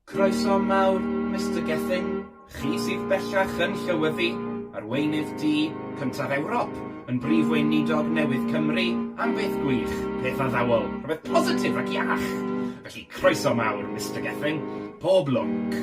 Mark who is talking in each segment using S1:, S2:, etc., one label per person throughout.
S1: Croeso mawr, Mister Gething, chi sydd bellach yn llywyddu, arweinydd du cyntaf Ewrop, yn Brif Weinidog newydd Cymru, am beth gwych, peth addawol, rhywbeth positif ac iach! Felly, croeso mawr, Mister Gething, pob lwc!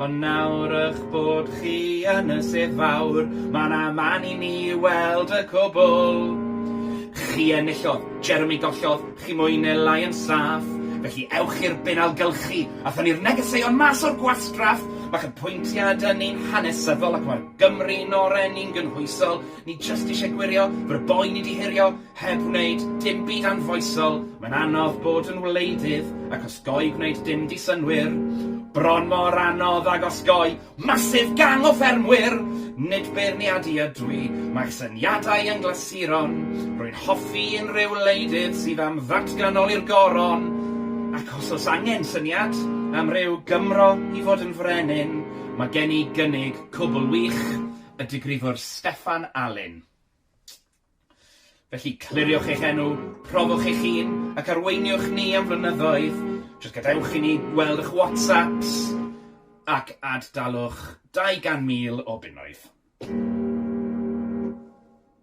S1: Ond nawr ych bod chi yn y sedd fawr, mae na man i ni weld y cwbl. Chi enillodd, Jeremy gollodd, chi mwy neu lai yn saff, felly ewch i'r bin ailgylchu a thynnu'r negeseuon mas o'r gwastraff! Mae cydpwyntiad yn un hanesyddol ac mae'r Gymru yn oren, ni'n gynhwysol, ni jyst eisiau gwirio, fy r'boi ni 'di hurio, Heb wneud dim byd anfoesol, mae'n anodd bod yn wleidydd ac osgoi gwneud dim di-synnwyr. Bron mor anodd ag osgoi massive gang o ffermwyr! Nid beirniadu ydw i, mae'ch syniadau yn glasuron. Rwy'n hoffi unrhyw wleidydd sydd am ddatganoli'r goron. Ac os oes angen syniad am ryw Gymro i fod yn frenin, mae gen i gynnig cwbl wych, y digrifwr Steffan Alun. Felly, cliriwch eich enw, profwch eich hun, ac arweiniwch ni am flynyddoedd. Jyst gadewch i ni weld eich WhatsApps ac ad-dalwch 200,000 o bunnoedd.